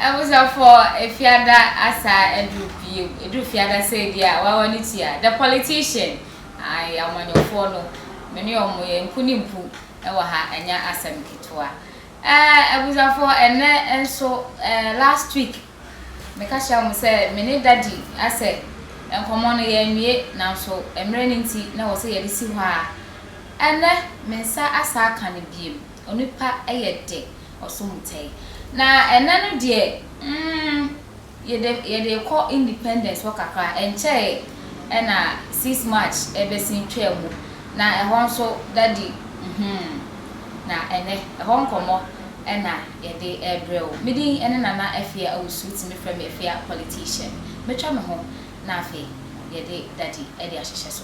Abusuafoɔ Efiada asa aduru pie aduru fiada sɛ di a wawa ne ti a the politician ayi amanyɔfoɔ no me ne ɔmo yɛ mpu ne mpu ɛwɔ ha ɛnyɛ asɛm ketewa ɛɛ abusuafoɔ ɛnɛ nso ɛɛ last week Meka kyerɛɛ wɔn sɛ me ne Daddy asɛ nkɔmmɔ no, yɛanwie, nanso mmerɛ no nti na ɛwɔ sɛ yɛde si hɔ ara. Ɛnnɛ, me nsa asan aka no bio. Onipa yɛ dɛ, ɔso mu tɛe. Na ɛnnɛ no deɛ, mm, yɛde, yɛde rekɔ Independence hɔ kakra. Ɛnkyɛeɛ na Sixth March bɛsen twaa mu, na ɛhɔ nso Daddy, mm-hmm, na ɛnnɛ, ɛhɔ nkɔmmɔ na. yɛde rebrɛ wo. Me din ne Nana Afia Owusu, tumi frɛ me Afia Politician. Mɛtwa me ho na afei yɛde Daddy de ahyehyɛ so.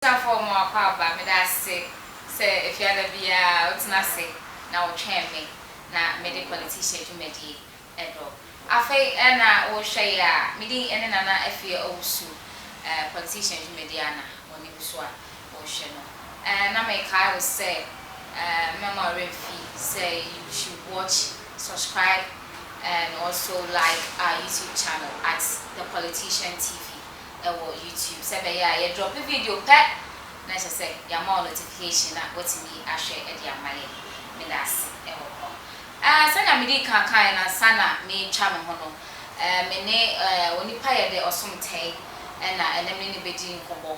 Abusuafo a wɔn akwaaba, meda ase sɛ Efiada biara wotena ase na wotwɛn me na mede Politihyia dwumadie ɛdɔ. Afei na wohwɛ yɛ a, me din ɛne Nana Afie Owusu, Politihyia dwumadie a na w'anim so a wohwɛ no. Na mekae wo sɛ mɛma wo werɛ mfi sɛ you should watch, subscribe and also like our YouTube channel at The Politician TV. wɔ YouTube sɛ ɛbɛyɛ a yɛdrɔpe video pɛ na kyerɛ sɛ yɛama wo notification na woatumi ahwɛ de ama yɛn. Meda ase wɔ hɔ. Ɛɛ, sɛnea medii kan kaeɛ no ansa na meretwa me ho no, ɛɛ, me ne ɛɛ, onipa yɛ dɛ, Ɔsom Tɛi, ɛna ɛnnɛ me ne no bɛdi nkɔmmɔ.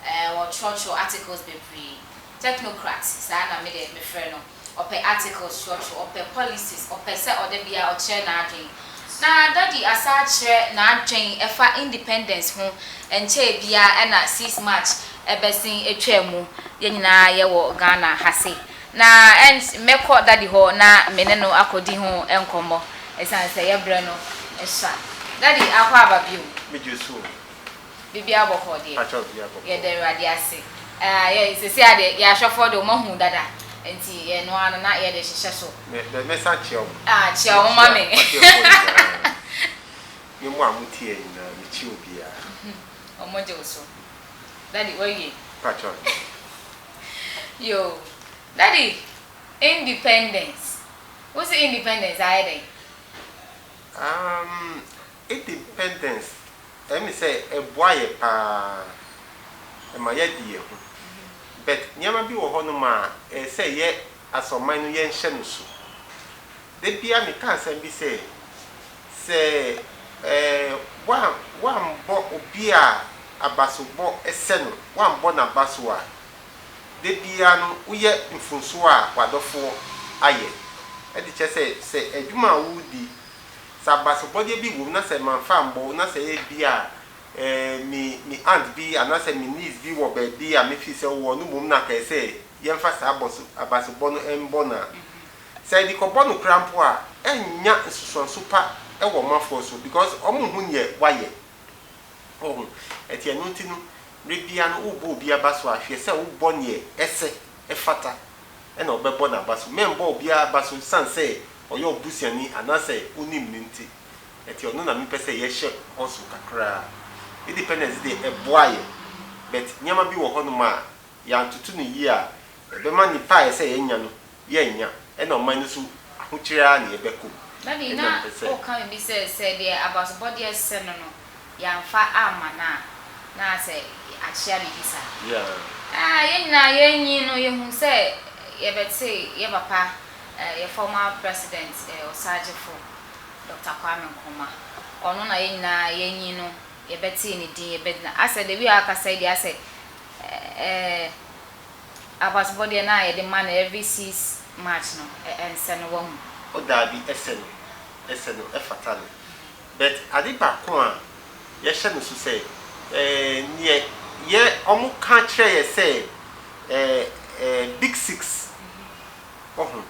Ɛɛ, ɔtwerɛtwerɛ articles bebree. Technocrat, saa na me deɛ mefrɛ no. Ɔpɛ articles twerɛtwerɛ, ɔpɛ policies, ɔpɛ sɛ ɔda biara ɔkyerɛ n'adwen. Na Daddy asan akyerɛ n'adwen ɛfa independence ho ɛnkyɛɛ biara ɛna six March ɛbɛsen atwaa mu, yɛn nyinaa yɛwɔ Ghana ha se. Na ɛns mɛkɔ Daddy hɔ na me ne no akɔdi ho nkɔmmɔ ɛsiane sɛ yɛbrɛ no sua. Daddy akɔ aba bio? Megye so o. Biribiara bɔ kɔɔ deɛ. Mpakyɛw biribiara bɔ kɔɔ. Yɛda Awurade ase. Ɛɛ yɛ sɛsɛ ara deɛ yɛn ahwɛfoɔ deɛ wɔn ahu dada nti ɛno ara no na yɛde hyehyɛ so. Me me me san kyia wɔn. Ah kyia wɔn ma me. M'ahwɛfoɔ nyinaa ne mo a mo tie yɛn nyinaa me kyia obiara. Wɔn gye wo so. Daddy wawie. Mpakyɛw nyɛ. Yoo daddy independence wo se independence ayɛ dɛn. Amm Independence ɛyɛ me sɛ ɛboa yɛ paa ɛma yɛadi yɛ ho but nneɛma bi wɔ hɔ nom a ɛyɛ sɛ yɛ as ɔman no yɛnhyɛ no so. Da biara me ka asɛm bi sɛ, sɛ ɛɛ woan woanbɔ obi a abasobɔ ɛsɛ no woanbɔ no abaso a, da biara no woyɛ mfomsoɔ a w'adɔfoɔ ayɛ ɛde kyerɛ sɛ sɛ adwuma a woredi Sɛ abasobɔdeɛ bi wom na sɛ mamfa ammɔ wo na sɛ ebia me me aunt bi anaasɛ me niece bi wɔ baabi a mefiri sɛ wowɔ no mmom na kae sɛ yɛmfa saa abɔso abasobɔ no mmɔ no a, sɛ yɛde kɔbɔ no koraa mpo a, ɛrennya nsusuanso pa wɔ ɔmanfoɔ so because wɔnhu neɛ wayɛ. Woahu? Ɛnti ɛno nti no, mmerɛ biara no wobɔ obi abaso a, hwɛ sɛ wobɔ neɛ ɛsɛ. ɛfata na ɔbɛbɔ n'aba so. Mɛmmɔ obiara aba so esiane sɛ ɔyɛ ɔbusuani anaasɛ onim me nti. Ɛte ɔno na mepɛ sɛ yɛhyɛ bɔ so kakra. Independence deɛ, ɛboa yɛn, but nneɛma bi wɔ hɔnom a, yɛantoto no yie a, ɛbɛma nnipa a ɛsɛ sɛ yɛnya no, yɛrennya, ɛna ɔman no nso ahokyere ara na yɛbɛkɔ mu. Daddy, na woka biribi sɛ, sɛ deɛ abasobɔdeɛ sɛ no no, yɛamfa amma no a, na sɛ akyea biribi saa. Yeah. Ah, yɛn nyinaa yɛnyin no yɛhu sɛ yɛbɛte yɛ papa, eh, yɛ former president, eh, Osagyefo Doctor Kwame Nkrumah. Ɔno na yɛn nyinaa yɛnyin no yɛbɛte ne din, yɛbɛgyina. Asɛ the way a ɔkasa yi deɛ asɛ, eh, abatobɔ deɛ na yɛde ma no every six March no, eh, ɛnsɛ no, wahu. Oh, daabi, ɛsɛ no, ɛsɛ no, ɛfata no. But ade baako a yɛhyɛ no so sɛ eh, neɛ yɛ ɔmo ka kyerɛ yɛ sɛ eh, eh, big six woho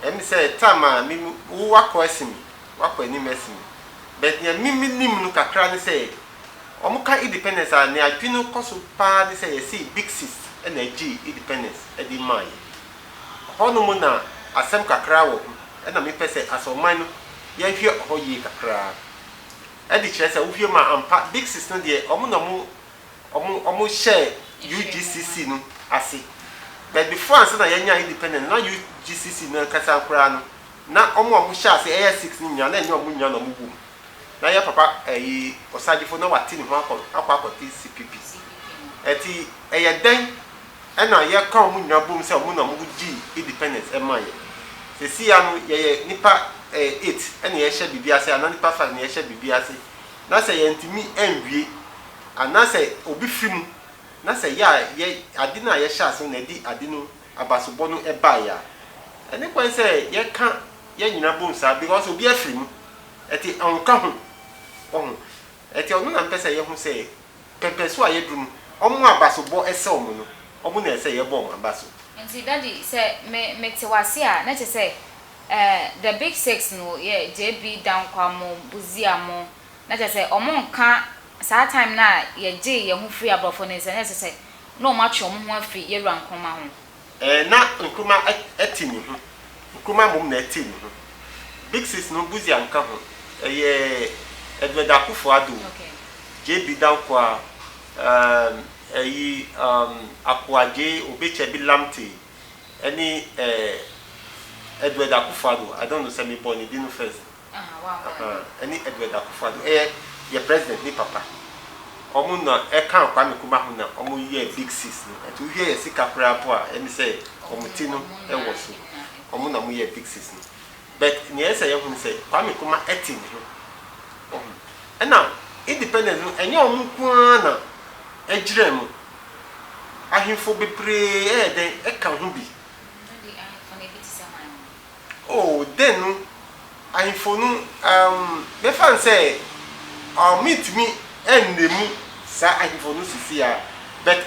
ɛne sɛ tam a me me wo wakɔ asi me wakɔ anim asi me but neɛ me me nim no kakra ne sɛ ɔmo ka independence a neɛ adwene no kɔ so paa ne sɛ yɛse big six ɛna ɛgyee independence ɛde maa yɛ Hɔnom na asɛm kakra wɔ ho na mepɛ sɛ Asɔrman no yɛhwɛ hɔ yie kakraa de kyerɛ sɛ wohwɛ mu a ampa Dixis no deɛ wɔn na wɔn wɔn hyɛɛ UGCC no ase but before ansa na yɛanya independent na UGCC no ankasa koraa no na wɔn a wɔhyɛ ase ɛyɛ six no nyinaa na ɛnyɛ wɔn nyinaa na wɔn wɔ mu na yɛ papa ɛyi Osagyefo na wate ne ho akɔ akɔ akɔte CPP ɛti ɛyɛ dɛn ɛna yɛ ka ɔmo nyina bom sɛ ɔmo na ɔmo gyii independence ɛma yɛ sesei ano yɛyɛ nipa ɛɛ eight ɛna yɛ hyɛ biribi ase ana nipa five na yɛ hyɛ biribi ase na sɛ yɛn tumi ɛnwie ana sɛ obi firi mu na sɛ yɛ a yɛ ade no a yɛ hyɛ ase no na ɛde ade no abasobɔ no ɛbaeɛ a ɛne kwan sɛ yɛ ka yɛ nyina bom saa because obi afiri mu ɛte ɔnka ho wahu ɛte ɔno na mpɛ sɛ yɛ ho sɛ Pɛpɛ so a yɛduru no, wɔn abaso bɔ sɛ wɔn no, wɔn na ɛsɛ yɛbɔ wɔn abaso. Nti daddy sɛ me me te wase a na kyɛ sɛ eh the big six no yɛ JB Dankwah mo Busia mo na kyɛ sɛ wɔn nka saa time no a yɛ gyee yɛn ho firi abrɔfo ne nsa na kyɛ sɛ na wɔn atwe wɔn ho afiri Yɛwura Nkrumah ho. Ɛɛ, na Nkrumah te ne ho. Nkrumah mmom na ɛte ne ho. Big Six no, Busia nka ho. Ɛyɛ Edward Akuffo Addo, JB Danquah, ɛɛm, ɛyi, ɛɛm, Akoa Adjei, Obetsebi Lamptey, ɛne ɛɛ, Edward Akuffo Addo. I don't know sɛ mebɔɔ ne din no first. Ahaa ɛne Edward Akuffo Addo ɛyɛ yɛ president ne papa ɔmo na ɛkaa Kwame Nkrumah ho na ɔmo yɛɛ big six no ɛnti wohwɛ yɛ sika koraa mpo a ɛne sɛ ɔmo ti no ɛwɔ so ɔmo na ɔmo yɛɛ big six no but nea ɛsɛ yɛhu ne sɛ Kwame Nkrumah ɛte ne ho wahu ɛna independence no ɛnyɛ ɔmo nko ara na ɛgyerɛɛ mo ahenfo bebree ɛyɛ dɛn ɛka ho bi. Oh, dɛn nu? Ahemfo no, umm, mɛfa no sɛ, oh, mentumi nnamu saa ahemfo no sesiaa, but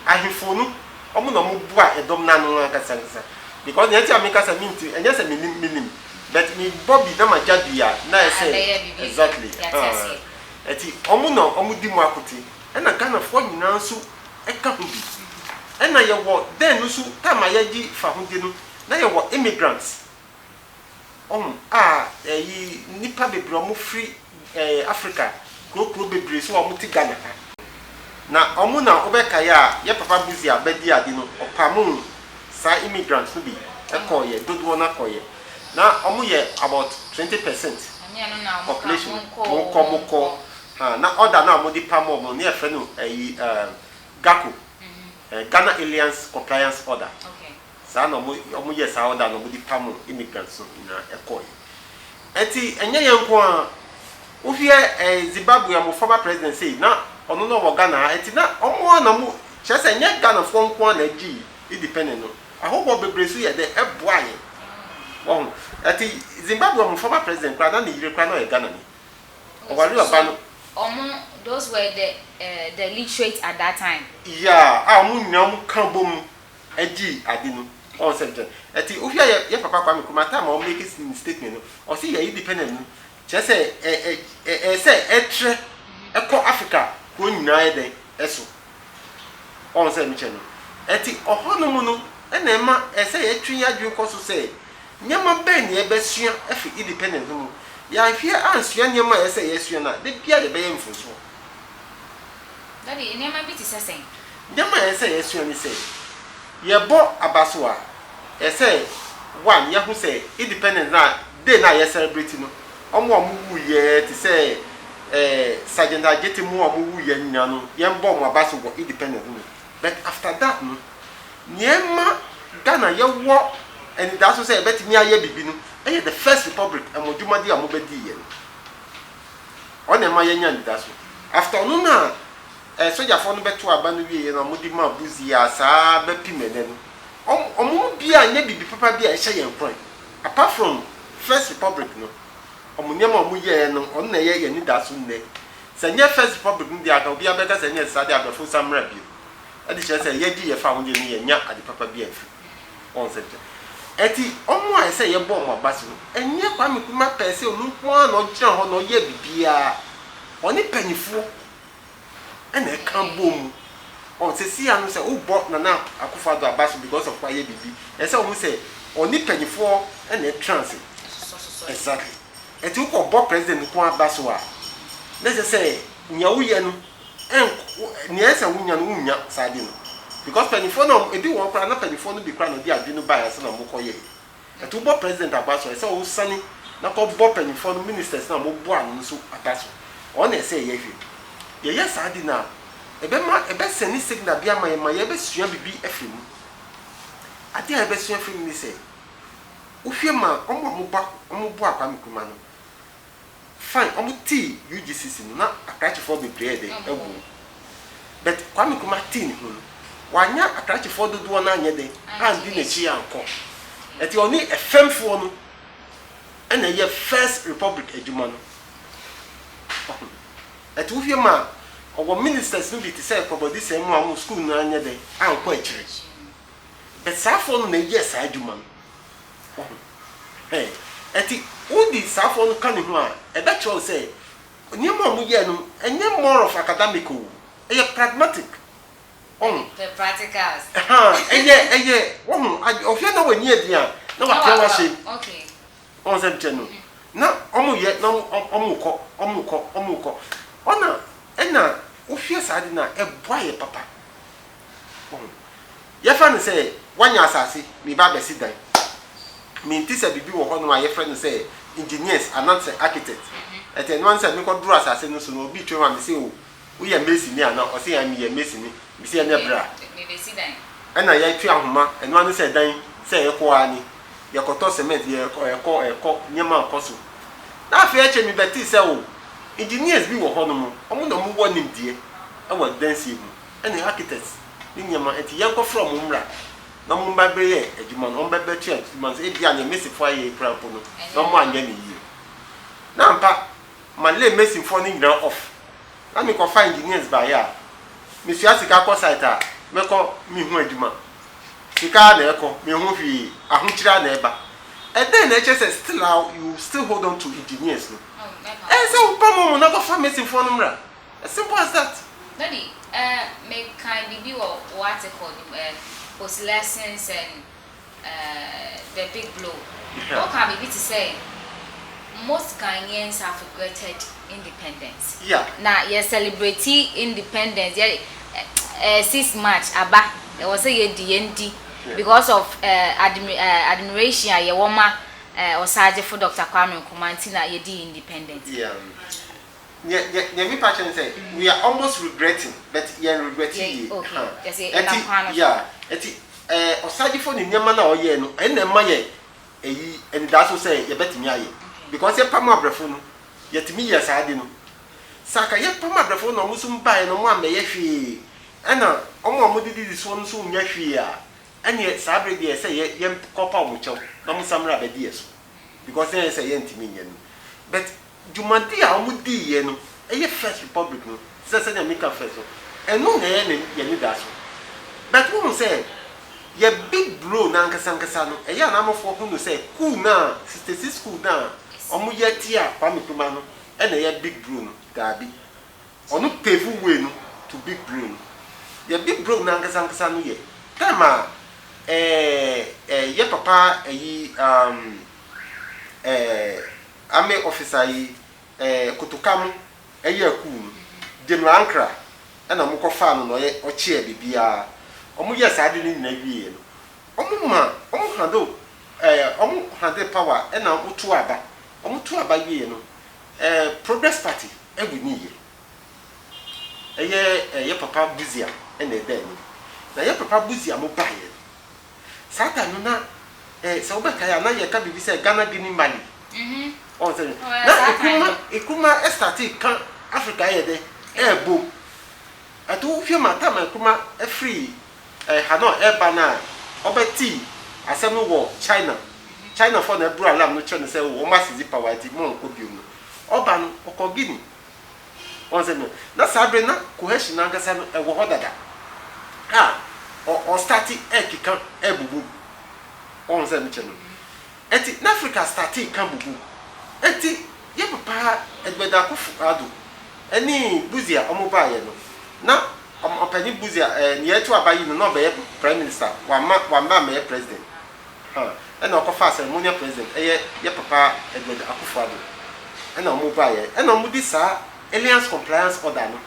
ahemfo no, wɔn na wɔn boa ɛdɔm no ano ankasa ankasa, because nea nti a meka sɛ mentumi, ɛnyɛ sɛ menim, menim, but mebɔ bi na magya bi a, na ayɛ sɛ, exactly, ahaa, ɛti wɔn na wɔn di mu akote, ɛna Ghanafoɔ nyinaa nso ka ho bi, ɛna yɛwɔ dɛn no nso, time a yɛgye fahodie no. Na yɛwɔ immigrants ɔho a ɛyi nnipa bebree a wɔn firi ɛɛ Africa kuro kuro bebree so a wɔn te Ghana ha. Na wɔn na wo bɛ kae a yɛ papa Buzi a bɛdi ade no ɔpamoo saa immigrants no bi kɔɔ yɛ dodoɔ no akɔ yɛ. Na wɔn yɛ about twenty percent population no wɔn kɔ wɔn kɔ ha na order no a wɔn de pamoo wɔn no yɛ frɛ no ɛyi ɛɛ GACO ɛɛ Ghana Aliens Compliance Order. saa na ɔmo ɔmo yɛɛ saa ɔda no ɔmo de pamo immigrants no nyinaa ɛkɔɔ yɛ ɛti ɛnyɛ yɛn nko ara wohwiɛ ɛɛ Zimbabwe ɔmo former president sei na ɔno na ɔwɔ Ghana ha ɛti na ɔmo ara na ɔmo kyerɛ sɛ ɛnyɛ Ghana foɔ nko ara na ɛgye independent no ahɔhoɔ bebree nso yɛ dɛ ɛboa yɛn wɔho ɛti Zimbabwe ɔmo former president koraa na ne yere koraa na ɔyɛ Ghana ni ɔware ɔba no. Ɔmo those were the ɛɛ the literate at that time. Yeah a ɔmo nyinaa ɔmo ka bom. gyee ade no ɔn sɛ nkyɛ ɛtse ohia yɛ yɛ papa Kwame Nkrumah time a ɔmake ne statement no ɔse yɛ independent no kyerɛ sɛ ɛ ɛ ɛ ɛsɛ ɛtrɛ ɛkɔ Africa kuro nyinaa yɛ dɛn ɛso ɔn sɛ mekyɛ no ɛtse ɔhɔ no mu no ɛna ɛma ɛsɛ yɛtwe yɛ adwene kɔ so sɛ nneɛma bɛn na yɛbɛsua ɛfiri independent no mu yɛanhwɛ yɛ ansua nneɛma a ɛsɛ yɛsua no a da biara yɛbɛyɛ mfomsoɔ. Daddy, nneɛma bi te sɛ sɛn? Nneɛma a ɛsɛ sɛ yɛsua ne sɛ, yɛbɔ aba so a, ɛsɛ sɛ, one, yɛahu sɛ independence no a, day no a yɛselebreti no, wɔn a wɔwuiɛ te sɛ eh, Sergeant Adjetey mo a wɔwuiɛ no nyinaa no, yɛbɔ wɔn aba so wɔ independence no mu. But after that no, nea ɛma Ghana yɛwɔ anidaso sɛ yɛbɛtumi ayɛ biribi no yɛ the first republic, mo dwumadi a mobɛdiiɛ no. Ɔna ɛma yɛnya anidaso. After ɔno na eh sogyafoɔ no bɛto aba no wieɛ na wɔde maa Buzi a saa bɛpem ɛnɛ no. Wɔn wɔn mu biaa nyɛ biribi papa bi a ɛhyɛ yɛn nkuran. Apart from First Republic no, wɔn nneɛma a wɔn yɛɛ no, ɔno na ɛyɛ yɛn anidaso nnɛ. Sɛ ɛnyɛ First Republic no deɛ anka obiaa bɛka sɛ ɛnyɛ saa deɛ abrɛfo nsa mmra bio. Ɛde kyerɛ sɛ yɛgye yɛfa ahodeɛ no yɛnnya ade papa bi amfiri mu. Concept. Ɛti ɔmo a ɛsɛ yɛbɔ ɔmo abase no, ɛnyɛ Kwame Nkrumah pɛɛ sɛ ɔno nko ara na ɔgyina hɔ na ɔyɛɛ biribiara. Ɔne mpaninfoɔ ɛna ɛka bɔɔ mu. Ɔn, sɛsii ara no sɛ wobɔ Nana Akufo Addo abase because of wayɛ biribi, ɛsɛ sɛ wohu sɛ ɔne mpaninfoɔ ɛna ɛtra ase. Exactly. Ɛti wokɔ bɔ President nko ara abaso a, na ɛsɛ sɛ nea woyɛ no ɛnk wo nea ɛsɛ sɛ wonya no wonnya saa ade no because mpanyinfoɔ no a wɔn ebi wɔn koraa na mpanyinfoɔ no bi koraa na ɔde adwene no baeɛ ansa na wɔkɔ yɛeɛ ɛto wobɔ president aba so a ɛsɛ wosane na kɔ bɔ mpanyinfoɔ no ministers no a wɔn boa no no nso aba so wɔn na ɛsɛ yɛ hwɛ yɛ yɛ saa ade no a ɛbɛma ɛbɛ sɛne signal bi ama yɛ ma yɛ bɛ sua bibi afiri mu ade a yɛ bɛ sua afiri mu ne sɛ wohwɛ ma wɔn a wɔn bɔ wɔn boa Kwame Nkrumah no. Fine ɔmo tee UGCC no na akrakyefoɔ bebree yɛ dɛn ɛwom but Kwame Nkrumah tee ne ho no wanya akrakyefoɔ dodoɔ no anyɛ dɛn andi n'akyi ankɔ ɛti ɔne ɛfɛmfoɔ no ɛna ɛyɛ first republic adwuma no wahu ɛti wohwɛ mu a ɔwɔ ministers no bi te sɛ Kɔbɔdi Sɛnmu a ɔmo school no anyɛ dɛn ankɔ akyire but saafoɔ no na ɛyɛɛ saa adwuma no Enti wode saafoɔ no ka ne ho a, ɛbɛkyerɛ wo sɛ nneɛma a wɔyɛɛ no, ɛnyɛ more of academic o, ɛyɛ pragmatic. Wahu? The practicals. Ahaa, ɛyɛ, ɛyɛ, wahu, ad, ɔhwɛ na w'ani aden a, na w'atena w'ase. Okay. Wahu sɛ mekyerɛ no? Na wɔyɛ, na wɔn, wɔkɔ, wɔkɔ, wɔkɔ. Ɔna, ɛna wohwɛ saa ade no a, ɛboa yɛ papa. Oho. Yɛfrɛ no sɛ woanya asase, meba abɛsi dan. Mente sɛ biribi wɔ hɔnom a yɛfrɛ no sɛ engineers anaasɛ architect. Ɛte ɛno ara ne sɛ mekɔduru asase no so na obi twam a mese o, woyɛ masoni anaa? Ɔse ae meyɛ masoni. Mese ɛnneɛ bra. Ɛna yɛatwe ahoma. Ɛno ara ne sɛ dan sɛ yɛkɔ ara ni. Yɛkɔtɔ cement, yɛkɔ, ɛkɔ, ɛkɔ, nneɛma rekɔ so. Na afei akyire mebɛtee sɛ o, engineers bi wɔ hɔnom, wɔn na wɔwɔ nimdeɛ wɔ adansie mu. ne architect ne nneɛma, enti yɛnkɔfrɛ wɔn mmra na wɔmmɛbɛyɛ yɛn adwuma no, wɔmmɛbɛtoa yɛn adwuma no so, ebia nea Masonfoɔ ayɛ yi koraa mpo no, na wɔanyɛ no yie. Na ampa, malay Masonfoɔ no nyinaa off, na mekɔfa engineers baeɛ a, mesua sika kɔ site a, mɛkɔ mehu adwuma. Sika ara na ɛrekɔ, menhu hwee, ahokyere ara na ɛreba. Ɛdɛn na ɛkyerɛ sɛ still a you still hold on to engineers no? Ɛyɛ sɛ wopam wɔn na kɔfa Masonfoɔ no mmra. As simple as that. Daddy, eh, me kan biribi wɔ wo article no mu, eh, Post Lessons and eh, the Big Blow. Wo kaa biribi te sɛ, Most Ghanaians have regretted independence. Yeah. Na yɛ celebrate independence, yɛ eh, eh, 6 March aba, ɛwɔ sɛ yɛ di yɛn di yeah. because of eh, admi, eh, admiration a yɛwɔ ma eh, ɔsagyefo Dr. Kwame Nkrumah nti na yɛ di independent. Yeah. Nea nea nea me pa kyerɛ ne sɛ we are almost regretting but yɛn regret yie Yɛn okay huh yɛsɛ yɛnam ɛti kwan no so. yeah ɛti ɛɛ ɔsaagyefo ne nneɛma no a ɔyɛɛ no ɛna ɛma yɛ ɛyi anidaso sɛ yɛbɛtumi ayɛ Okay. because yɛpam abrɛfo no yɛtumi yɛɛ saa ade no sɛ anka yɛpam abrɛfo na wɔn nso baeɛ na wɔn ammɛyɛ hwee ɛna wɔn a wɔde didi soɔ no nso nnya hwee a ɛneɛ saa bere deɛ ɛsɛ yɛ yɛn kɔ pa wɔn kyɛw na wɔn nsa mmra abɛdi yɛ so because na yɛn sɛ yɛntumi nyɛ no but Dwumadi a wɔdiiɛ no yɛ First Republic no te sɛ sɛdeɛ meka first no, ɛno na ɛyɛ n'anidaso. But wohu sɛ yɛ big bro no ankasa ankasa no, ɛyɛ a na amanfoɔ hu no sɛ kuu no a, 66 kuu no a wɔyɛ tia Kwame Nkrumah no na ɛyɛ big bro no. Daabi. Ɔno pave way no to big bro no. Yɛ big bro no ankasa ankasa no yɛ time a eh eh yɛ papa ayi um eh Army officer yi eh, kotoka mo ɛyɛ akuo no, General Ankra ɛna ɔmo kɔ faa no na ɔyɛ ɔkyeɛ biribiaa, ɔmo yɛɛ saa ade no nyina wieɛ no, ɔmo ma, ɔmo handle eh, ɔmo handle power ɛna ɔmo too aba, ɔmo too aba wieɛ no eh, Progress Party ɛwiniiɛ, ɛyɛ eh, yɛ papa Busia ɛna ɛdaa anim, na yɛ papa Busia mo baeɛ no, Saa time no na eh, sɛ wobɛkae a na yɛka biribi sɛ Ghana Guinea Mali. Ɔhu sɛ dɛn? Na ɛkuma ɛkuma ɛstarte ka Africa ayɛ dɛn? Ɛɛbo. Ɛto wo hwɛ ma time a ɛkuma ɛfiri eh, Hanoi ɛɛba no a ɔbɛtee asɛm no wɔ China. China foɔ na ɛboro alarm no kyerɛ no sɛ oh wɔn asezi power nti monkɔ biom no. Ɔba no ɔkɔɔ Guinea. Wɔn sɛ no, na saa bere na cohesion no ankasa no ɛwɔ hɔ dada a ɔ ɔ starte ɛkeka ɛbubu. Wɔn sɛ mekyɛ no. Ɛnti na Africa starte ka bubu. Ɛnti yɛ papa Edward Akuffo Addo ɛne Busia wɔn baayɛ no, na ɔ ɔpanyin Busia ɛɛ nea ɛto aba yi no na ɔbɛyɛ prime minister. Wamma wamma ammɛyɛ president. Huh ɛna ɔkɔfaa ceremonial president ɛyɛ yɛ papa Edward Akuffo Addo ɛna ɔmo vaeɛ ɛna ɔmo de saa Alliance Compliance Order no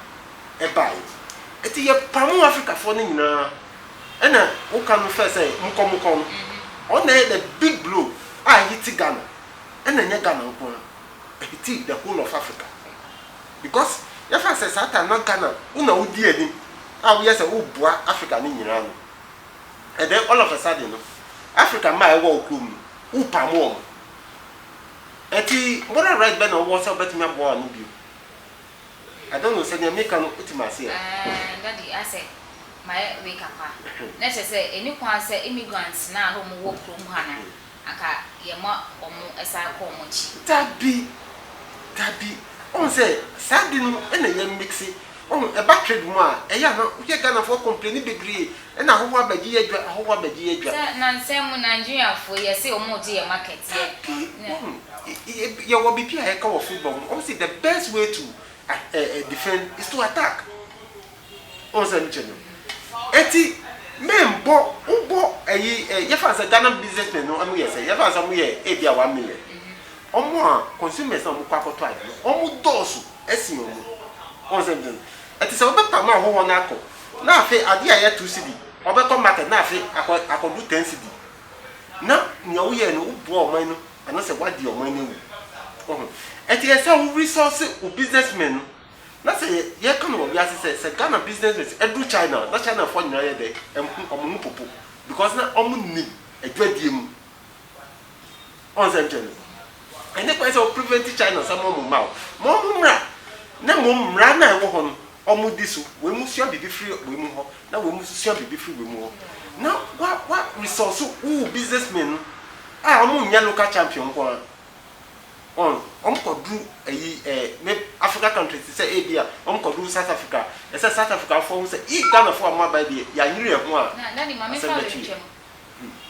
ɛbaeɛ ɛti yɛ pamo Africafoɔ no nyinaa ɛna wo ka no fɛ sɛ mokɔ mokɔ no ɔno na ɛyɛ the big blow a ɛhiti Ghana ɛna ɛnyɛ Ghana nko ara ɛhiti the whole of Africa because yɛfa sɛ saa time na Ghana wo na wo di anim a wo yɛ sɛ wo boa Africa no nyinaa no. And then all of a sudden no, Africa mmaa a ɛwɔ wo kurom no, wopam wɔn. Ɛnti moral right bɛn na wowɔ sɛ wobɛtumi aboa wɔn ano bio? I don't know sɛ deɛ meka no wote me aseɛ. Aah daddy asɛ mayɛ wei kakra na kyerɛ sɛ ɛni kwan sɛ immigrants no a na wɔn wɔ kurom ha no anka yɛma wɔn san kɔ wɔn akyi. Dabi, dabi, wohu sɛ saa de no na yɛ mixe, wohu, ɛba trade mu a, ɛyɛ a na woyɛ Ghanafoɔ complaini bebree, ɛna ahɔhoɔ abɛgye yɛ adwa, ahɔhoɔ abɛgye yɛ adwa. Sɛ nansa mu Nigeriafoɔ yɛ se wɔn regye yɛ market yɛ. Dabi, wohu, yɛ wɔ biribi a yɛka wɔ football mu, wɔn se the best way to defend is to attack, Wohu sɛ mekyerɛ no? Enti memmɔ wobɔ ayi ɛ yɛfa no sɛ Ghana businessmen no wɔyɛ sɛ yɛfa no sɛ wɔyɛ ebia one million. Wɔn a consumers a wɔkɔ akɔtɔ ade no wɔn dɔɔso sen wɔn. Wohu sɛ mekyerɛ no? Ɛte sɛ wobɛpam ahɔhoɔ no akɔ na afei adeɛ a ɛyɛ two cedi wɔbɛkɔ market na afei akɔ akɔdu ten cedi na nea woyɛɛ no woboa ɔman no anaasɛ woadeɛ ɔman no awu. Wohu? Enti ɛsɛ sɛ wo resource wo businessmen no Na sɛ yɛ yɛka no wɔ wiase sɛ sɛ Ghana business men ɛduru China a na China foɔ nyinaa yɛ dɛ ɛho ɔmo ho popo because na ɔmo nim adwadie mu ɔn sɛ nkyɛ no ɛne kwan sɛ wo prevent China sɛ mo ɔmo mma wo ma ɔmo mmra na mmom mmra no a ɛwɔ hɔ no ɔmo di so wei mo sua biribi firi wei mo hɔ na wei mo nso sua biribi firi wei mo hɔ na wa wa resource wo wo business men no a ɔmo nyɛ local champion nko ara wɔn wɔn kɔ duru ɛyi ɛɛ ne Africa countries te sɛ ebi a wɔn kɔ duru South Africa ɛsɛ South Africa foɔ ho sɛ ii Ghana foɔ a wɔn aba yi deɛ yanyere yɛn ho a Na daddy ma me asɛm fa bɛto yɛn. bɛntwam.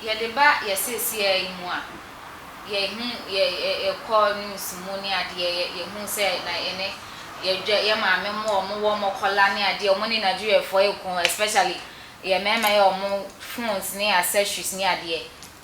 Yɛde ba yɛ seeseɛ yi mu a, yɛhu yɛ yɛ kɔ news mu ne adeɛ yɛ yɛhu sɛ na yɛne yɛ dwa yɛ maame mo a wɔn wɔ wɔn kɔla ne adeɛ wɔn ne Nigeriafoɔ ɛko especially yɛ mmarima yɛ wɔn phones ne accessories ne adeɛ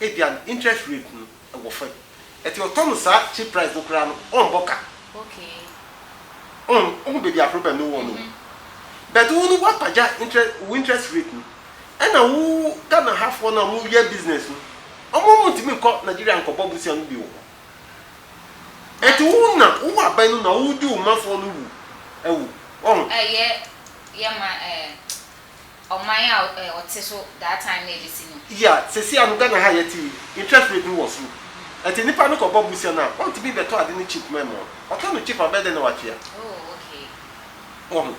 ebia no interest rate no ɛwɔ fam ɛti ɔtɔ no saa cheap price no koraa no ɔmbɔ ka wohu baabi a problem no wɔ no o but wo no woapagya interest wo interest rate no ɛna wo Ghana ha foɔ no a ɔmo yɛ business no ɔmo ɔmo ntumi nkɔ Nigeria nkɔbɔ bosea no bi wɔ hɔ ɛti wo na wowɔ aban no na wodi wo ma foɔ no wu awu ɔho. ɔman a ɔte so that time na ɛbɛsi no. Yea, sesei ano Ghana ha a yɛte yi, interest rate no wɔ soro. Ɛnti nipa no kɔ bɔ bosea no a, ɔntumi bɛtɔ ade no cheap ma ɛmmoa. Ɔtɔ no cheap a, ɔbɛyɛ dɛn na watua? Oh, okay. Wahu?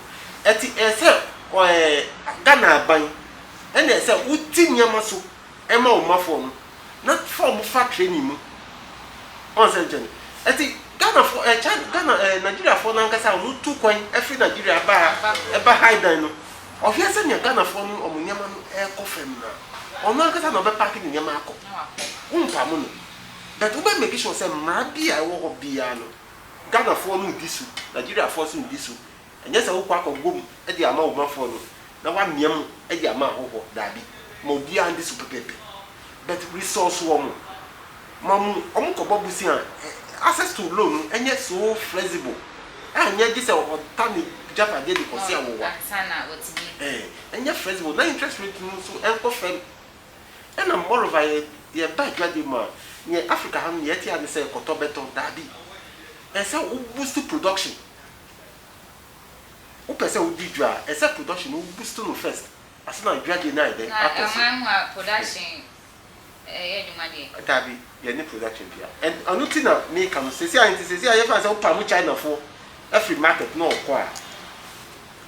Ɛnti ɛyɛ sɛ ɛɛ Ghana aban ɛna ɛyɛ sɛ wote nneɛma so ma wo mmafoɔ no na fa wɔn fa training mu. Wahu sɛ nkyɛ no? Ɛnti Ghanafoɔ ɛɛ China Ghana ɛɛ Nigeriafoɔ no ankasa a wɔtu kwan firi Nigeria ba ha ba Highdan no, Ɔhwɛ sɛnea Ghanafoɔ no wɔn nneɛma no rekɔ fam no a, ɔno ankasa na ɔbɛpaake ne nneɛma akɔ. Wompamo no. But wobɛ make sure sɛ mmara bi a ɛwɔ hɔ biara no, Ghanafoɔ no redi so, Nigeriafoɔ nso redi so. Ɛnyɛ sɛ wokɔ akɔbom de ama wo mafoɔ no na woamia mu de ama ahɔhoɔ. Daabi. Ma obiara ndi so pɛpɛɛpɛ. But resource wɔ mo ma mu ɔmo kɔ bɔ bosea a access to loan no ɛnyɛ so flexible ɛnyɛ gye sɛ ɔta ne gyapadeɛ de kɔ se awowa ɛɛ ɛnyɛ flexible na interest rate no nso ɛnkɔ fɛm ɛna moreover yɛ yɛ ba adwade mu a neɛ Africa ha no neɛ yɛte ara ne sɛ kɔtɔ bɛtɔ daabi ɛsɛ wo boost production wo pɛ sɛ wo di dwa a ɛsɛ production no wo boost no first Ase na dwumadie no ayɛ dɛn akɔ so. Na ɛman mu a production ɛyɛ adwuma deɛ. Daabi yɛne production biara ɛn ɛno ti na meka no sɛsi a nti sɛsi a yɛfa no sɛ wo pamo China foɔ ɛfiri market na ɔkɔ a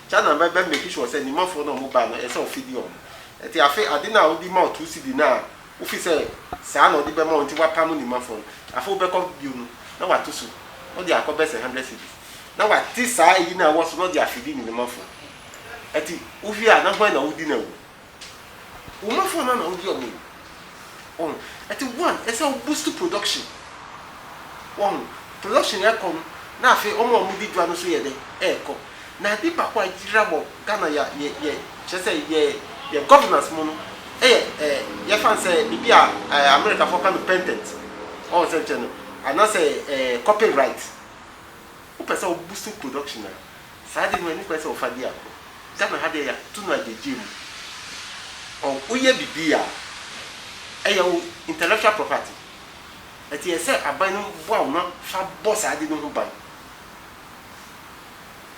China bɛ bɛ make sure sɛ nima foɔ na ɔmo ba no ɛsɛ ɔfidi ɔmo ɛti afe ade no a ɔdi ma wo two cedi no a wofi sɛ saa na ɔdi bɛ ma wo nti wa pamo nima foɔ no afe wo bɛ kɔ bio no na wa to so na ɔdi akɔ bɛ sɛ hundred cedis na wa te saa ɛyi no a ɛwɔ so na ɔdi afidi ne nima foɔ. Ɛte wohwɛ a na hwan na wodi n'awu? Wo mmafoɔ no ara na wodi wɔn awu. Wahu? Ɛte one, ɛsɛ sɛ wo boost production. Wahu? Production ɛrekɔ no, na afei wɔn a wɔdi dwa no nso yɛ dɛn? Ɛrekɔ. Na ade baako a ɛyera wɔ Ghana yɛ yɛ yɛ kyerɛ sɛ yɛ yɛ governance mu no yɛ ɛ yɛfa no sɛ biribi a ɛ Amerikafoɔ ka no patent. Wahu sɛnkyerɛ no? Anaasɛ ɛ copyright. Wopɛ sɛ wo boost production a. Saa ade no, ɛne kwan sɛ wɔfa di agorɔ. Ghana ha deɛ, yɛato no agyegyeɛ mu. Ɔ, woyɛ biribi a, ɛyɛ wo intellectual property. Ɛnti ɛsɛ sɛ aban no boa wo na fa bɔ saa ade no ho ban.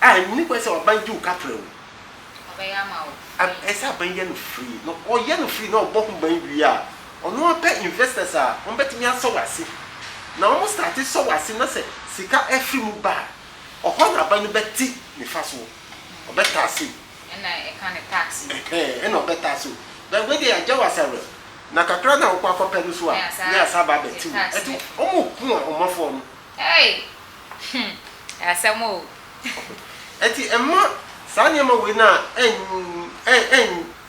A, ɛnni kwan sɛ aban gye wo ka kyerɛ wo. Ɔbɛyɛ ama wo A, free. ɛsɛ sɛ aban yɛ no free. Na ɔyɛ no free na ɔbɔ ho ban wie a, ɔno ara pɛ investors a, wɔbɛtumi asɔ wo ase. Na wɔstate sɔ wo ase na sɛ sika firi mu ba a, Ɔhɔ na ba no bɛte nifa so, ɔbɛtaa se o. Ɛna ɛka ne tax no. Ɛhɛn, ɛna ɔbɛtaa se o. But wei deɛ agya wo asawrɛ. Na kakra no a wokɔ akɔpɛ no so a, ne asan aba abɛte wo. Ɛnti ɔmo ko a ɔma fɔɔ no. Ei! Hum! Ɛyɛ asɛm o. Ɛnti mma saa nneɛma wei no a ɛn, ɛn, ɛn,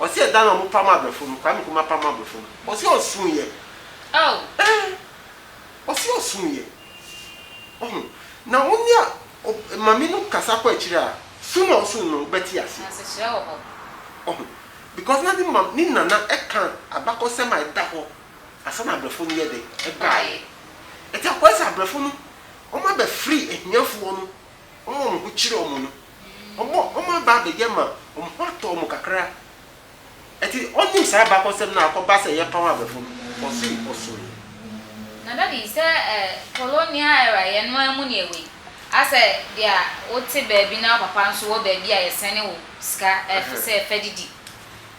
Ɔse ɛda na ɔmo pam abrɛfo no, Kwame Nkrumah pam abrɛfo no, ɔse ɔsuuyɛ, eh, ɔse ɔsuuyɛ, wahu, na wo ne a ob mame no kasa kɔ akyire a, sooner or soon no wo bɛte ase, wahu, because na ne mam ne nana ɛka abakɔsɛm a ɛda hɔ ansa na abrɛfo no yɛ dɛn ɛbaeɛ, ɛti akɔyɛ sɛ abrɛfo no ɔmo abɛ free ahiafoɔ no, ɔmo a ɔmo ho kyere ɔmo no. wɔaba abɛdi ama wɔn ho atɔ wɔn kakra. Ɛnti wɔnnim saa abakɔsɛm no a akɔba sɛ yɛpaw abɛfo no, ɔse ɔsoeɛ. Na daddy sɛ colonial era yɛn no ara mu na yɛwɔ yi, asɛ deɛ wote baabi na wo papa nso wɔ baabi a yɛsɛne wo sika ɛfisɛ fadidi.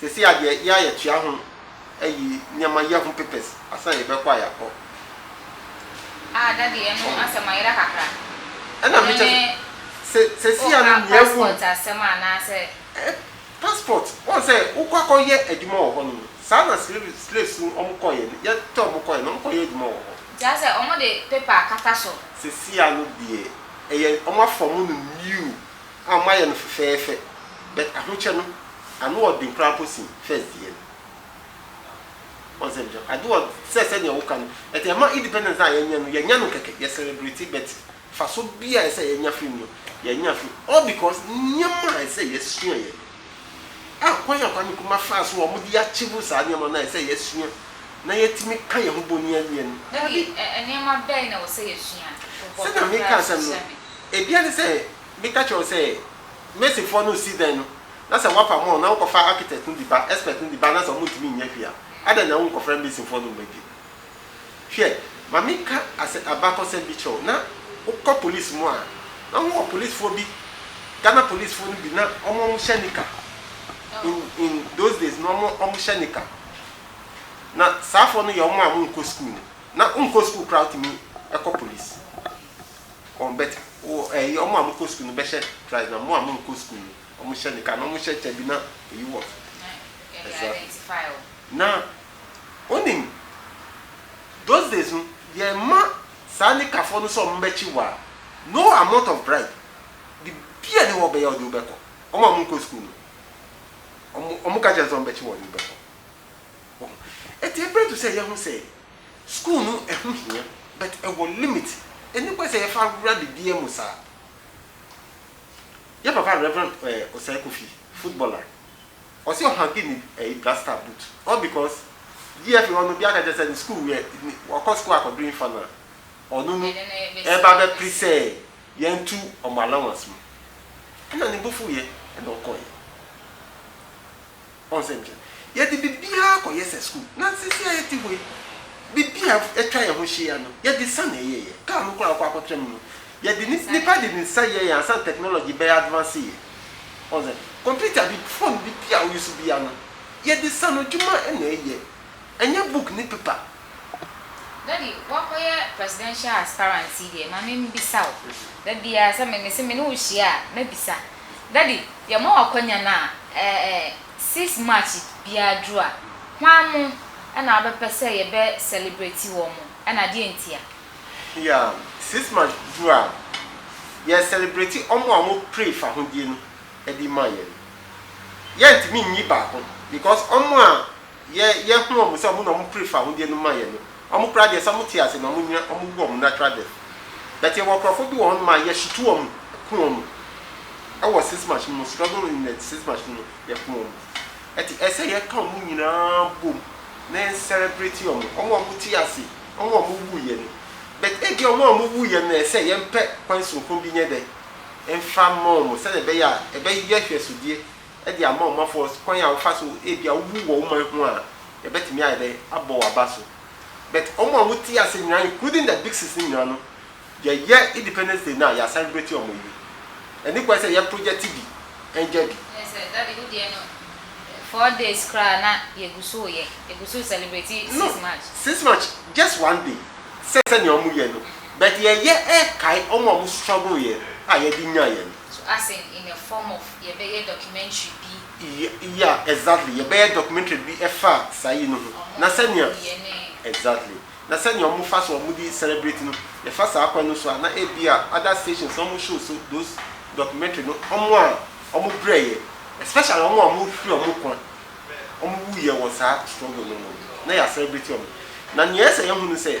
Sesei a deɛ yɛa yɛtua ho ayi nneɛma yɛ ho papers ansa na yɛbɛkɔ a yɛakɔ. Ah daddy ɛno asɛm ayera kakra. Ɛna me kyɛ sɛ sesei a no nea ɛwɔ mu. Passport asɛm a anaa sɛ. Eh passport wɔn sɛ wokɔ akɔ yɛ adwuma wɔ hɔ nom no saa na slave slaves no wɔn kɔ yɛ no yɛ tɔ wɔn kɔ yɛ no wɔn kɔ yɛ adwuma wɔ hɔ. Kyerɛ sɛ wɔn de paper akata so. Sesei a no deɛ ɛyɛ wɔn afɔm no new. a moayɛ no fɛfɛɛfɛ but ahokyɛ no ano ɔden koraa mpo sen first deɛ no wahu sɛ mekyerɛ ade wɔ sɛ sɛdeɛ woka no ɛti ɛma independence no a yɛnyɛ no yɛnyɛ no kɛkɛ yɛ celebrate but faso bi a ɛsɛ yɛnya firi mu no yɛnya firi all because nneɛma a ɛsɛ yɛsua yɛ no a kwan a Kwame Nkrumah faa so a wɔde achieve saa nneɛma no a ɛsɛ yɛsua na yɛtumi ka yɛn ho bɔni awie no daabi. Nneɛma bɛn na ɛwɔ sɛ yɛsua? Sɛdeɛ meka asɛm no. Ebia ɛsɛ sɛ meka kyerɛ wo sɛ masonfoɔ no resi dan no na sɛ wɔapam wɔn na wokɔfa architect no de ba, expert no de ba anaasɛ wɔntumi nyɛ hwee a, adɛn na wonkɔfrɛ masonfoɔ no mma bio? Hwɛ, ma menka asɛ abakɔsɛm bi kyerɛ wo, na wokɔ police mu a, na wɔn wɔ policefoɔ bi, Ghana policefoɔ no bi na wɔn wɔn hyɛ nika, in in those days no wɔn wɔn hyɛ nika, na saafoɔ no yɛ wɔn a wɔnkɔ school no, na wonkɔ school koraa wotumi kɔ police. Wɔn bɛta. Wo ɛyi wɔn a wɔkɔ sukuu no bɛhyɛ trousers na wɔn a wɔnkɔ sukuu no wɔhyɛ nika na wɔhyɛ kyɛ bi na eyi wɔ so. Exactly. Na wonim those days no yɛmma saa nikafoɔ no sɛ wɔn bɛkye wo a no amount of bribe biribi a ɛni hɔ wɔbɛyɛ wɔde wo bɛkɔ. Wɔn a wɔnkɔ sukuu no wɔn wɔka kyerɛ no sɛ wɔn bɛkye wo wɔde wo bɛkɔ. Wohu? Enti ɛbrɛ to sɛ yɛho sɛ. School no ɛho hia but ɛwɔ limit ɛni kwan sɛ yɛfa wura biribiara mu saa. Yɛ papa Rev. Osei Kofi, footballer, ɔse ɔhanke ne ɛyi blaster boot all because DFA hɔ no obiara ka kyerɛ sɛ ne school yɛ wakɔ school akɔduru nfa no a ɔno no ɛba bɛ pere sɛ yɛn tu ɔmo allowance mu ɛna ne bo fuuyɛ ɛna ɔkɔɔyɛ. Ɔn sɛ nkyɛ yɛde biribiara kɔ yɛ sɛ sukuu na sisi a yɛte hɔ yi biribi a atwa yɛn ho hyia no yɛde sa na ɛyɛ yɛ car no koraa ɔkɔ akɔtra mu no yɛde nipa de ne nsa yɛ yɛn ansa na technology bɛyɛ advance yɛ Ɔn sɛ computer bi phone biribi a wo use bia no yɛde sa no adwuma na ɛyɛ Ɛnyɛ book ne paper. Daddy woakɔyɛ presidential aspirant yi deɛ ma menbisa wo dabiaa sɛ me mese mene wo hyia a mɛbisa daddy yɛma wo akwanya no a ɛɛ 6 March biaa duru a hwan mo ɛna wobɛpɛ sɛ yɛbɛ celebrate wɔn mo ɛna deɛ ntia. Yeah 6 March duru a yɛ celebrate wɔn mo a wɔn pray fahodie no ɛde ma yɛn no yɛntumi nyi baako because wɔn mo a Yɛ yɛ hu ɔmo sɛ ɔmo na ɔmo pere fahodeɛ no ma yɛ no. Ɔmo koraa deɛ sɛ ɔmo te ase na ɔmo nyina ɔmo wu ɔmo natural death. But yɛ wɔ nkorɔfoɔ bi wɔ hɔnom a yɛ hyete ɔmo ku ɔmo ɛwɔ six months no mu struggle in the six months no mu yɛ ku ɔmo. Ɛte ɛsɛ yɛ ka ɔmo nyinaa bom na yɛ celebrate ɔmo. Ɔmo a ɔmo te ase, ɔmo a ɔmo wu yɛ no. But ebia ɔmo a ɔmo wu yɛ no na ɛsɛ yɛ mpɛ kwan soronko bi nyɛ dɛ nfa ma ɔmo sɛdeɛ ɛbɛyɛ a ɛbɛ yɛ hwɛsodeɛ de ama wɔn afɔ, kwan a wɔfa so ebia wowu wɔ wo man ho a, yɛbɛtumi ayɛ dɛ abɔ wo aba so. But wɔn a wɔte ase nyinaa including the Dixons no nyinaa no, yɛyɛ Independence Day no a, yɛacelebrate wɔn awie. Ɛne kwan sɛ yɛ project bi ɛngya bi. Ɛne sɛ Daddy wo deɛ no four days koraa na yɛgu so reyɛ, yɛgu so recelebrate six March. No, six March just one day sɛ sɛnea wɔyɛ no, but yɛyɛ ɛrekae wɔn a wɔstruggle yɛ a yɛde nyaeɛ no. So as in in a form of yɛbɛyɛ documentary bi? Y ya exactly yɛbɛyɛ documentary bi ɛfa saa yi no ho Ɔmo na sɛnea nsukuuyɛ ne. exactly na sɛnea ɔmo fa so ɔmo de celebrate no yɛfa saa kwan no so a na ebia other stations na ɔmo show so those documentary no ɔmo a ɔmo brɛ yɛ especially ɔmo a ɔmo hwere ɔmo nkwa ɔmo wu yɛ wɔ saa struggle no mu no na yɛ a celebrate ɔmo na nea ɛsɛ yɛhu no sɛ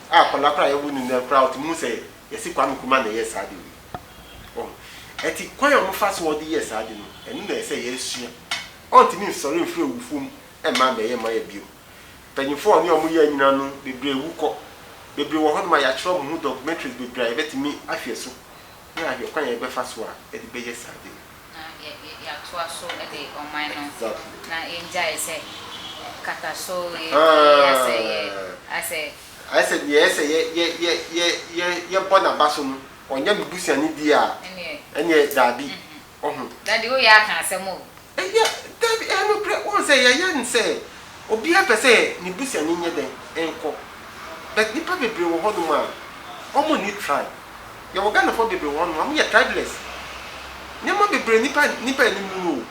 a akwadaa koraa a yɛwo no nnɛ koraa ɔtumi hu sɛ yɛse Kwame Nkrumah na ɛyɛɛ saa ade wei. Wɔn. Ɛti kwan a wɔfa so wɔde yɛɛ saa ade no, ɛno na ɛsɛ sɛ yɛsua. Ɔntumi nsɔre mfiri awufoɔ mu mma mmɛyɛ Maya bio. Mpanyinfoɔ a ɔne wɔn yɛɛ nyinaa no, bebree wu kɔ. Bebree wɔ hɔnom a yɛatwerɛ wɔn ho documentaries bebree a yɛbɛtumi ahwɛ so na yɛahwɛ kwan a yɛbɛfa so a yɛde bɛyɛ saa ade no. Na yɛatoa so de ɔman no. Exactly. Na yɛngyae sɛ kataso yɛ yɛ asɛ yɛ asɛ. Ayɛ sɛ deɛ ɛyɛ sɛ yɛ yɛ yɛ yɛ yɛ yɛbɔ n'aba so no ɔnyɛ me busuani deɛ a Ɛneɛ. ɛneɛ daabi ɔho. Daddy wo yɛ aka asɛm o. Ɛyɛ daabi ɛyɛ nokorɛ wohu sɛ yɛyɛ no sɛ obiara pɛ sɛ ne busuani nyɛ dɛn nkɔ but nipa bebree wɔ hɔ nom a wɔn nni try. yɛwɔ Ghanafoɔ bebree wɔ hɔ nom a wɔyɛ tribeless nneɛma bebree nnipa nnipa anim no no o.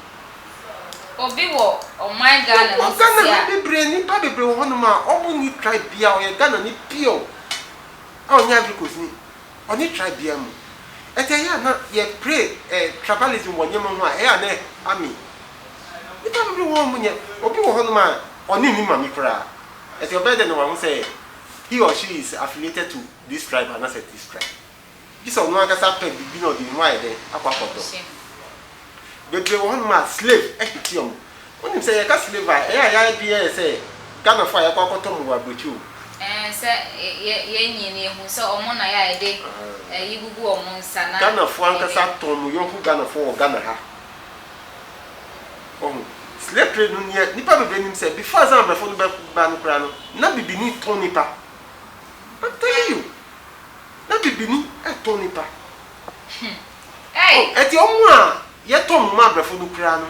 Obi wɔ ɔman Ghana mu sisi a. Yɛwɔ Ghana ha bebree nnipa bebree wɔ hɔ nom a wɔn nni tribe biara ɔyɛ Ghanani pure a ɔnyɛ Ivory Coast ni ɔnni tribe biara mu ɛti ɛyɛ a na yɛ pray ɛ tribalism wɔ nneɛma ho a ɛyɛ a na ɛha me nnipa bebree wɔ hɔ a wɔn nyɛ obi wɔ hɔ nom a ɔne ne mame koraa ɛti ɔbɛyɛ dɛ na wahu sɛ he or she is affiliated to. Describe anaasɛ Describe. Gye sɛ ɔno ankasa pɛ biribi na ɔde ne ho ayɛ dɛn? Akɔ akɔtɔ. Bebree wɔ hɔnom a slave ahwete wɔn. Wonim sɛ yɛka slave a, ɛyɛ a yɛn adwene yɛ sɛ Ghanafoɔ a yɛakɔ akɔtɔ wɔn wɔ aburokyire o. Ɛɛ sɛ yɛ yɛn nyɛ no yɛhu sɛ wɔn na yɛ a yɛde ayi gugu wɔn nsa na. Ghanafoɔ ankasa tɔn wɔn yɔnko Ghanafoɔ wɔ Ghana ha. Wahu? Slave trade no deɛ nnipa bebree nim sɛ before ansa na abrɔfoɔ no bɛba no koraa no, na bibini tɔn nnipa. Batalio na bibini tɔn nipa oh ɛti ɔmo a yɛ tɔn ɔmo ma abrɛfo no koraa no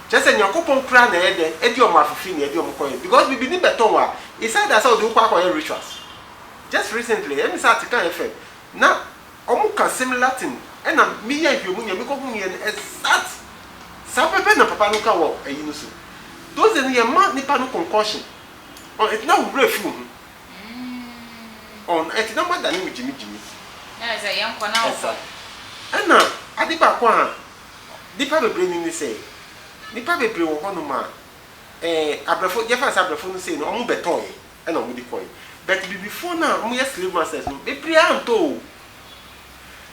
kyerɛ sɛ nyankopɔn koraa na ɛyɛ dɛn ɛdi ɔmo afifiri na ɛdi ɔmo kɔ yɛ because bibini bɛ tɔn wo a it's either sɛ ɔdi wo kɔ akɔ yɛ rituals just recently ɛmi sɛ ate kan fm na ɔmo ka similar thing ɛna mi yɛ nhwɛ mu nea mi kɔ hu yɛ no exact saa pɛpɛ na papa no ka wɔ ɛyi no so those days no yɛ ma nipa no concoction oh ɛti na wo werɛ fi wo ho Mm oh ɛnti na moadane mo gyimi gyimi. Na ɛsɛ yɛn kɔ na ɔkɔ. Ɛna ade baako a nipa bebree nim ne sɛ nipa bebree wɔ hɔ nom a eh abrɛfo yɛfrɛ no sɛ abrɛfo no sei no ɔmo bɛtɔɔɛ ɛna ɔmo de kɔɔɛ but bibifoɔ no a ɔmo yɛ slave masters no bebree antɔ oo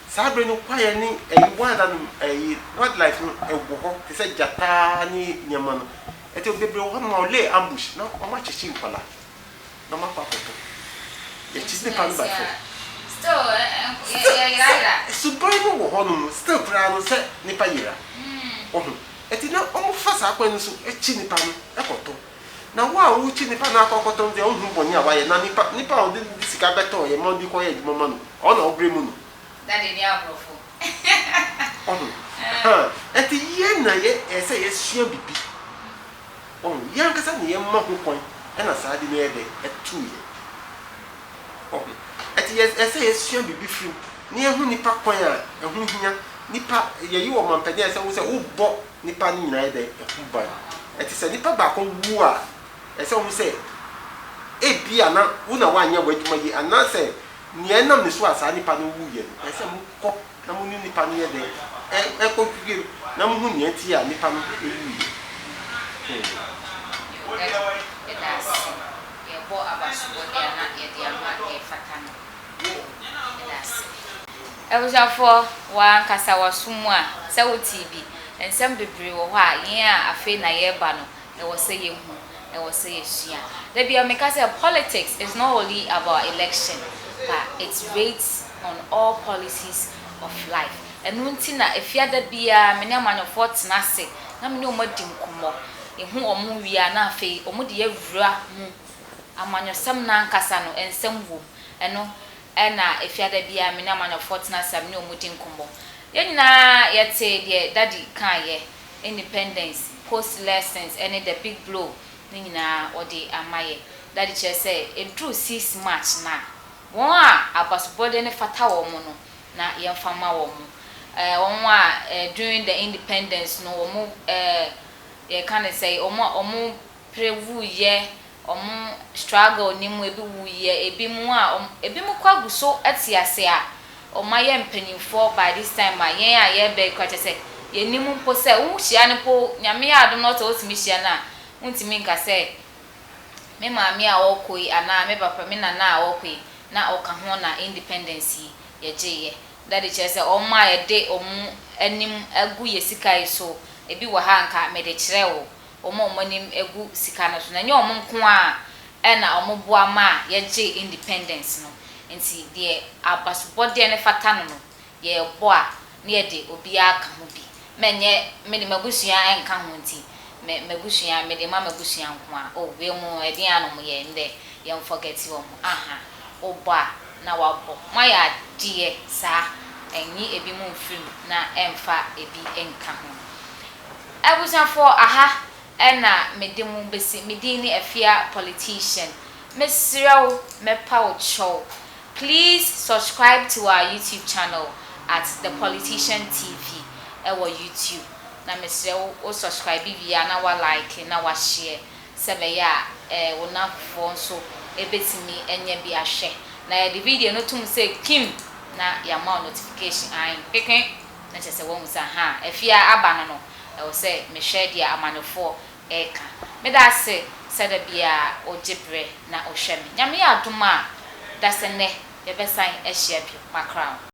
saa bere no kwaeɛ ne ɛyi wild anim ɛyi wild life no ɛwɔ hɔ te sɛ gyataa ne nneɛma no ɛti bebree wɔ hɔ nom a ɔlay ambush na ɔmo akyekye nkwadaa. na makɔ akɔtɔ. Yɛkyi nnipa no ba fam. Still, suban no wɔ hɔnom still koraa no sɛ nnipa yera. Wahu? Nti na wɔfa saa kwan no so kyi nnipa no kɔtɔ. Na wo a worekyi nnipa no akɔ akɔtɔ no deɛ wonhu bɔne a wayɛ. Na nnipa, nnipa a ɔde ne sika bɛtɔeɛ ma wode kɔyɛ adwuma ma no, ɔno na wobrɛ mu no. Daddy ne aborɔfo. Wahu? Ahaa. Nti yɛn na yɛ, ɛsɛ sɛ yɛsua biribi. Wahu? Yɛn ankasa na yɛma ho kwan na saa ade no yɛ dɛ? Ɛto yɛn. Wahu? Ɛte yɛ ɛsɛ sɛ yɛsua biribi firi mu, na yɛhu nnipa kwan a ɛho hia, nnipa, yɛyi wɔn mampanin a ɛsɛ sɛ wo sɛ wobɔ nnipa no nyinaa yɛ dɛ? Ho ban. Ɛte sɛ nnipa baako wu a, ɛsɛ sɛ wohu sɛ ebia na wo na woanyɛ w'adwuma yie, anaasɛ nea ɛnam ne so a saa nnipa no wuiɛ no, ɛsɛ sɛ mokɔ. na mo ne nnipa no yɛ dɛ, ɛ, ɛkɔ dwudwam, na mohu nea enti a nnipa no wuwuiɛ. Hmm. Yɛ, yɛda ase. Yɛbɔ abasobɔdeɛ a na yɛde ama deɛ ɛfata no. Yɛda ase. Abusuafoɔ, wɔ ankasa w'aso mu a, sɛ wotee bi, nsɛm bebree wɔ hɔ a, yɛn a afei na yɛreba no, Ɛwɔ sɛ yɛhu, ɛwɔ sɛ yɛsua. Da biara meka sɛ politics is not only about election but it rates on all policies of life. Ɛno nti na Efiada biara me ne amanyɔfoɔ tena ase na me ne wɔn adi nkɔmmɔ. Yɛhu wɔn wie a na afei wɔde yɛn awura mu. Amanyɔsɛm no ankasa no nsɛm wɔ mu. Ɛno na Efiada biara me ne amanyɔfoɔ tena ase a me ne wɔn di nkɔmmɔ. Yɛn nyinaa yɛtee deɛ Daddy kaeɛ Independence, Post Lessons ne The Big Blow no nyinaa wɔde ama yɛ. Dade kyerɛ sɛ ɛduru six March no a, wɔn a abasobɔdeɛ no fata wɔn no na yɛmfa ma wɔn. Wɔn a during the independence no wɔn yɛka no sɛn wɔn a wɔn pere wuiɛ, wɔn struggle no mu ebi wuiɛ, ebinom a wɔn, ebinom koraa gu so te ase a wɔayɛ mpanimfoɔ by this time a yɛn a yɛreba yi koraa kyerɛ sɛ yɛnnim mpo sɛ wohyia no mpo, Nyame yɛ adom na sɛ wotumi hyia no a, wontumi nka sɛ me maame a ɔrekɔ yi anaa me papa, me nana a ɔrekɔ yi na ɔka ho na independence yi yɛgyeeɛ. Daddy kyerɛ sɛ wɔn a yɛde wɔn anim agu yɛn sika yi so, ebi wɔ ha a anka mede kyerɛ wo, wɔn a wɔn anim gu sika no so no, ɛnyɛ wɔn nko ara na wɔboa maa yɛgyee independence no. Enti deɛ abasobɔdeɛ no fata no no, yɛrebɔ a, na yɛde obiara ka ho bi. Ma ɛnyɛ me de m'abusua nka ho nti, me m'abusua, mede ma m'abusua nko ara. Oh, wei mu ɛdeɛn ara na wɔyɛ ɛnnɛ, yɛnfɔgɛte wɔn. Aha, wobɔ a, na woabɔ. Moayɛ adeɛ saa, ɛnyi ebinom mfiri mu na ɛmfa ebi nka ho. Abusuafoɔ aha na me de mo bɛsi, me din ne Afia Politician. Me srɛ wo, mɛ pa wo kyɛw, please subscribe to our YouTube channel at The Politician TV ɛwɔ YouTube. Na me srɛ wo, wo subscribe wie a na wa like na wa share sɛ ɛbɛyɛ a eh, wo nnamfofoɔ nso bɛtumi anya bi ahwɛ. Na yɛde video no to mu sɛ kim na yama wo notification ahe. Kpekpe! Na kyerɛ sɛ wahu sɛ, ahaa, afie a aba no no, ɛwɔ sɛ mehwɛ deɛ amannefoɔ reka. Meda ase sɛ da biara wogye berɛ na wohwɛ me. Nyame yɛ adom a, da sɛ nnɛ yɛbɛsan ahyia bio. Makra wo.